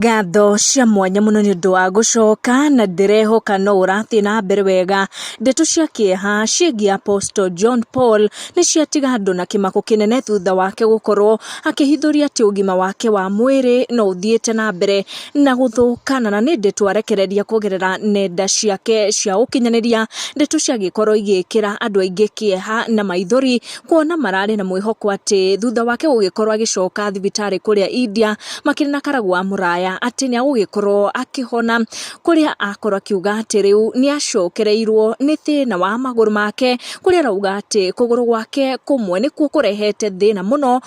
Ngatho cia mwanya mũno nĩ ũndũ wa gũcoka na ndĩrehoka no ũrathiĩ na mbere wega. Ndeto cia kĩeha ciĩgiĩ Apostle John Paul nĩ ciatiga andũ na kĩmako kĩnene thutha wake gũkorwo akĩhithũria atĩ ũgima wake wa mwĩrĩ no ũthiĩte na mbere na gũthũka na na nĩ ndeto arekereria kũgerera nenda ciake cia ũkinyanĩria. Ndeto ciagĩkorwo igĩkĩra andũ aingĩ kĩeha na maithori Kuona mararĩ na mwĩhoko atĩ thutha wake gũgĩkorwo agĩcoka thibitarĩ kũrĩa India makĩrĩ na karagu wa mũraya atĩ nĩ agũgĩkorwo akĩhona, kũrĩa akorwo akiuga atĩ rĩu nĩ acokereirwo nĩ thĩna wa magũrũ make, kũrĩa arauga atĩ kũgũrũ gwake kũmwe nĩkuo kũrehete thĩna mũno.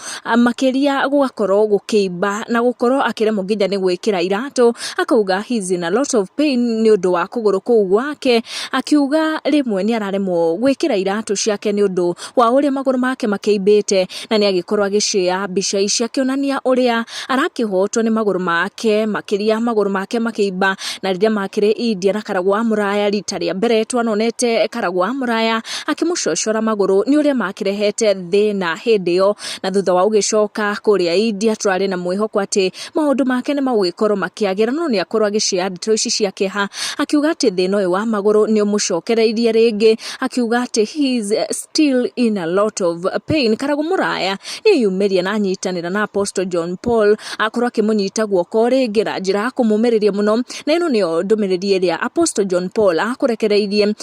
makĩria gũgakorwo gũkĩimba na gũkorwo akĩremwo nginya nĩ gwĩkĩra iratũ, akauga he is in a lot of pain nĩ ũndũ wa kũgũrũ kũu gwake, akiuga rĩmwe nĩ araremwo gwĩkĩra iratũ ciake nĩ ũndũ wa ũrĩa magũrũ make makĩimbĩte, na nĩ agĩkorwo agĩcioya mbica ici akĩonania ũrĩa arakĩhotwo nĩ magũrũ make, makĩria magũrũ make makĩimba, na rĩrĩa makĩrĩ India na karagwa mũraya rita rĩa mbere twanonete karagwa mũraya. akĩmũcocora magũrũ nĩ ũrĩa makĩrehete thĩna hĩndĩ ĩyo, na thutha wa gũgĩcoka kũrĩa India tũrarĩ na mwĩhoko atĩ maũndũ make nĩ magũgĩkorwo makĩagĩra, no nĩ akorwo agĩcioya ndeto ici cia kĩeha, akiuga atĩ thĩna ũyũ wa magũrũ nĩ ũmũcokereirie rĩngĩ, akiuga atĩ he is still in a lot of pain, karagũ mũraya nĩ eyumĩria na anyitanĩra na Apostle John Paul, akorwo akĩmũnyita guoko rĩngĩ na njĩra ya kũmũmĩrĩria mũno, na ĩno nĩyo ndũmĩrĩri ĩrĩa Apostle John Paul akũrekereirie.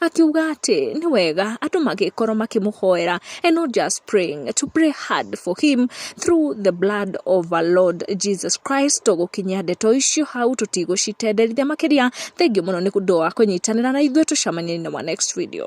Akiuga atĩ nĩ wega andũ magĩkorwo makĩmũhoera and not just praying, to pray hard for him through the blood of our Lord Jesus Christ. Tũgũkinyia ndeto icio hau tũtigũcitenderithia makĩria. Thengiũ mũno nĩ ũndũ wa kũnyitanĩra na ithuĩ, tũcemanie in our next video.